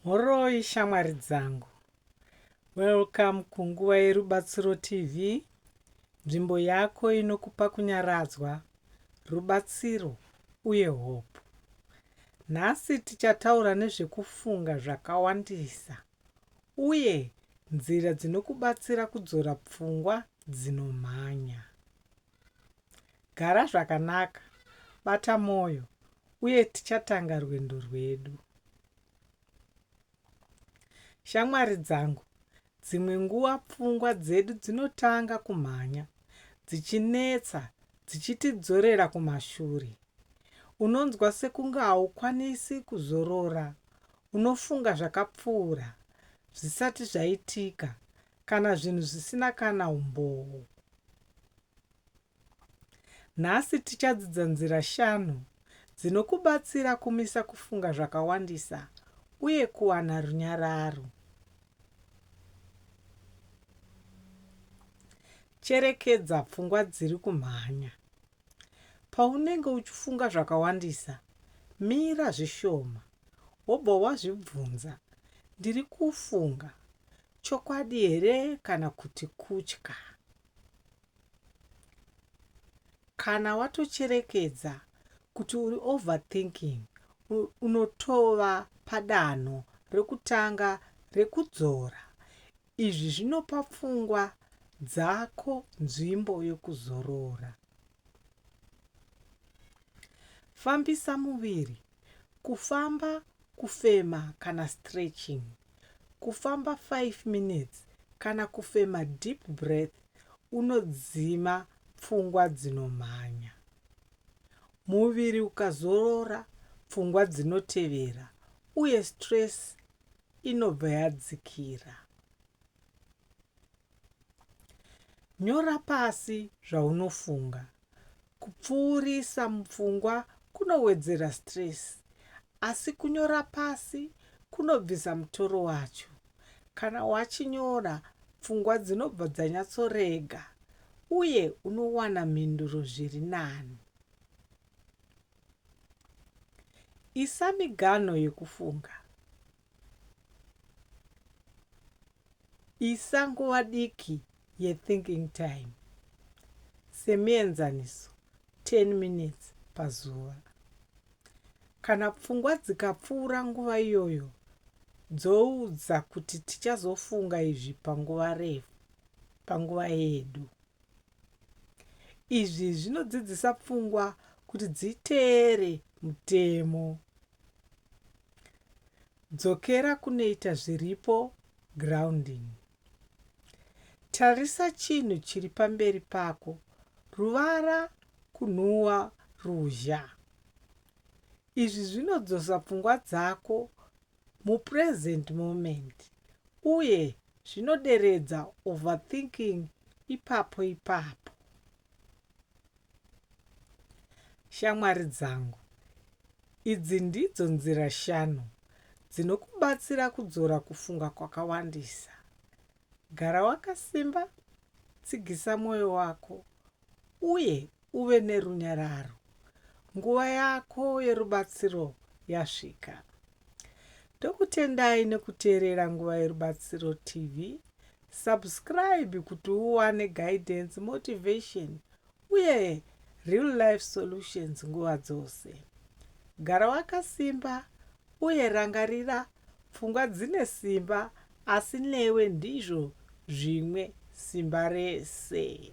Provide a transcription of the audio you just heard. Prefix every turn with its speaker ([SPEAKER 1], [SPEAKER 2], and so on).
[SPEAKER 1] Mhoroi shamwari dzangu. Welcome kunguva yerubatsiro TV, nzvimbo yako inokupa kunyaradzwa, rubatsiro uye hope. Nhasi tichataura nezvekufunga zvakawandisa uye nzira dzinokubatsira kudzora pfungwa dzinomhanya. Gara zvakanaka, bata mwoyo, uye tichatanga rwendo rwedu. Shamwari dzangu, dzimwe nguva pfungwa dzedu dzinotanga kumhanya, dzichinetsa, dzichitidzorera kumashure. Unonzwa sekunge haukwanisi kuzorora, unofunga zvakapfuura, zvisati zvaitika, Kana zvinhu zvisina kana umboo. Nhasi tichadzidza nzira shanu dzinokubatsira kumisa kufunga zvakawandisa uye kuwana runyararo. Cherekedza pfungwa dziri kumhanya. Paunenge uchifunga zvakawandisa, mira zvishoma wobva wazvibvunza, Ndiri kufunga Chokwadi here kana kuti kutya? Kana watocherekedza kuti uri overthinking, unotova padanho rekutanga rekudzora. Izvi zvinopa pfungwa dzako nzvimbo yokuzorora. Fambisa muviri kufamba kufema kana stretching kufamba 5 minutes kana kufema deep breath unodzima pfungwa dzinomhanya muviri ukazorora pfungwa dzinotevera uye stress inobva yadzikira nyora pasi zvaunofunga Kupfuurisa mupfungwa kunowedzera stress asi kunyora pasi kunobvisa mutoro wacho. Kana wachinyora, pfungwa dzinobva dzanyatsorega uye unowana mhinduro zviri nani. Isa miganho yekufunga. Isa nguva diki yethinking time, semuenzaniso 10 minutes pazuva. Kana pfungwa dzikapfuura nguva iyoyo, dzoudza kuti tichazofunga izvi panguva refu, panguva yedu. Izvi zvinodzidzisa pfungwa kuti dziteere mutemo. Dzokera kunoita zviripo, grounding. Tarisa chinhu chiri pamberi pako, ruvara, kunhuwa, ruzha. Izvi zvinodzosa pfungwa dzako mupresent moment uye zvinoderedza overthinking ipapo ipapo. Shamwari dzangu, Idzi ndidzo nzira shanu dzinokubatsira kudzora kufunga kwakawandisa, Gara wakasimba, tsigisa mwoyo wako, uye uve nerunyararo. Nguva yako yerubatsiro yasvika. Ndokutendai nekuteerera Nguva Yerubatsiro TV Subscribe kuti uwane guidance, motivation uye real life solutions nguva dzose. Gara wakasimba uye rangarira pfungwa dzine simba asi newe ndizvo zvimwe simba rese.